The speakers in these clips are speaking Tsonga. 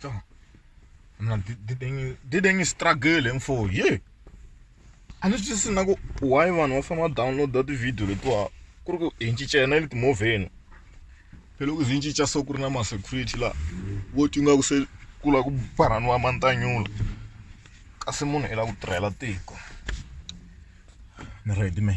So. I'm like, did, did, any, did any struggle and for yeah. And it's just like, why one of them download that video? It was, kuri ku hi ncincena ni timovheni phela ku zi ncinca so ku ri na masecurity laha vo ti nga ku se ku lava ku barhaniwa mantanyula kasi munhu i lava ku tirhela tiko ni ready me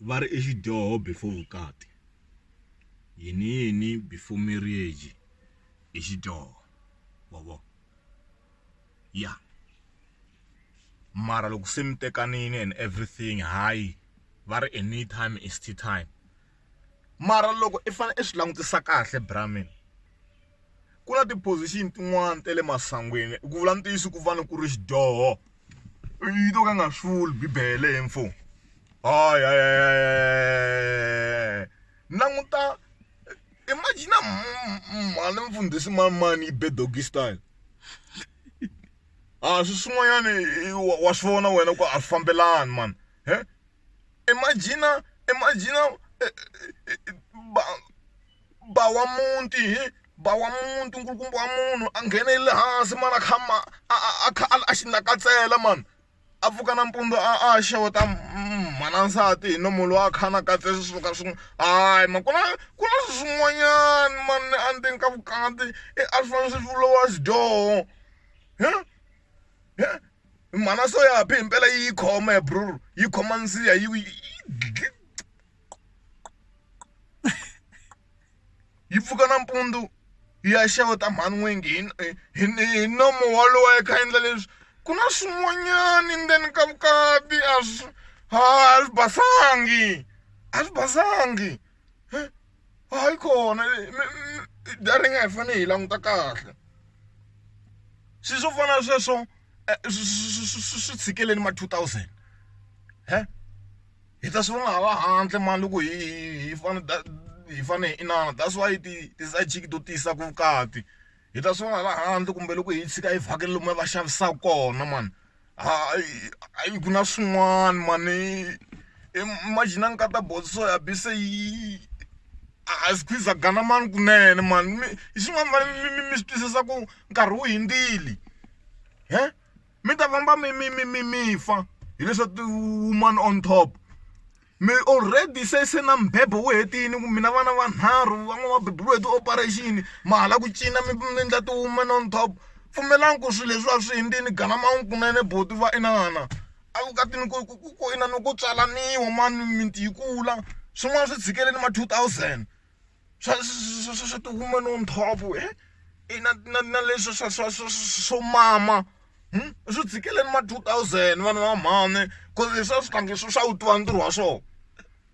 va ri i xidyoho before vukati yini yini before marriage i xidyoho wa vo ya mara loko se mi tekanile and everything hayi va ri a need time is to time mara loko i fane i swi langutisa kahle bra mina ku na ti position tin'wani ta le masangwini ku vula ntiyiso ku vana ku ri xidyoho. yito ka nga swi vuli bibele he mfo hayi hayi languta imagine mhani mfundhisi mani mani yi be doggy style a swi swin'wanyani wa swi vona wena ku a swi fambelani mani he imagine imagine ba ba wa muti hi ba wa muti nkulukumba wa munhu a nghenelele hansi mara kha ma a a a kha a xi nakatsela mani a pfuka nampundzu a a xeweta mhana nsati hi nomu lowa a kha a nakatse swi suka swin'we hayi ma ku na ku na swin'wanyani mani endzeni ka vukati i a swi fanele swi vuriwa xidyoho mhana so ya phi himpela yi yi khoma he brother yi khoma nsiha yi yi . yi pfuka nampundzu yi ya xeweta mhani n'wingi hi hi hi nomo wolowo a yi kha endla leswi ku na swin'wanyani ndzeni ka vukati a swi ha a swi basangi a swi basangi hayi kona data yi nga hi fanele hi languta kahle swi swo fana na sweswo swi tshikeleni ma two thousand . hi ta swi vona hala handle mani loko hi hi fane hi fane hi inana that's why ti ti side chick to tisa ku vukati hi ta swi vona hala handle kumbe loko hi tshika hi vhakela lomu va xavisaka kona mani hayi ku na swin'wana mani imagine nkata boso so ya bi se yi a swi khwiza gana mani kunene mani mi hi swin'wana mani mi mi swi twisisa ku nkarhi wu hindzile he. mi ta famba mi mi mi mi mi fa hileswa ti-woman on top mi already se se na mbhebhe wu hetini ku mina vana vanharhu van'wana va beburiwe hi ti-operation ma hala ku cina mi mi endla ti-woman on top pfumelani ku swilo leswi a swi hundzini ganamanga kunene buti va inana a vukatini ku ku ku inana ku tswalaniwa mani mimiti yi kula swin'wana swi tshikeleni ma two thousand. swa swa swa swa ti woman on top he i na na na leswi swa swa swa swo mama swi tshikeleni ma two thousand vana va mhani ku ri leswi a swi fanekele swi swa wu tiva ntirho wa swona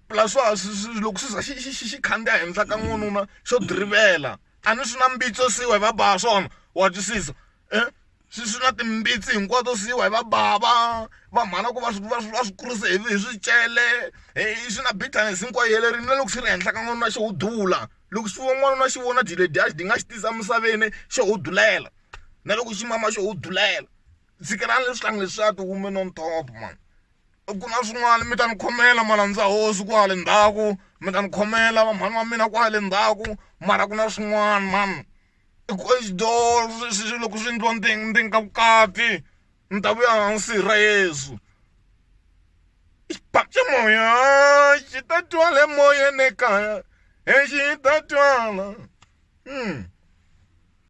plus swa ha swi swi loko swi za xi xi xi xi khandziya henhla ka n'wanuna xo drivela a ni swi na mbitso se wehe va ba swona wa twisisa. eh? swi swi na timbitsi hinkwato swi yiwa hi va bava va mhana ku va swi va swi va swi kurise hi hi swicele hi swi na bitterness hinkwayo yelerini na loko swi ri henhla ka n'wanuna xo wu dula loko swi vo n'wanuna xi vona dile dyaxi di nga xi tisa emisaveni xo wu dulela na loko xi mama xo wu dulela tshikelani leswi tlangi leswiya ti women on top man ku na swin'wana mi ta ni khomela malandza hosi kwale ndzhaku mi ta ni khomela va mhani wa mina kwale ndzhaku mara ku na swin'wana mani i ku i door swilo loko swi endliwa ndzeni ndzeni ka vukati ni ta vuya hansi ra yesu i xibhamu xa moya xi ta twa le moyeni ekaya e xi ta twala .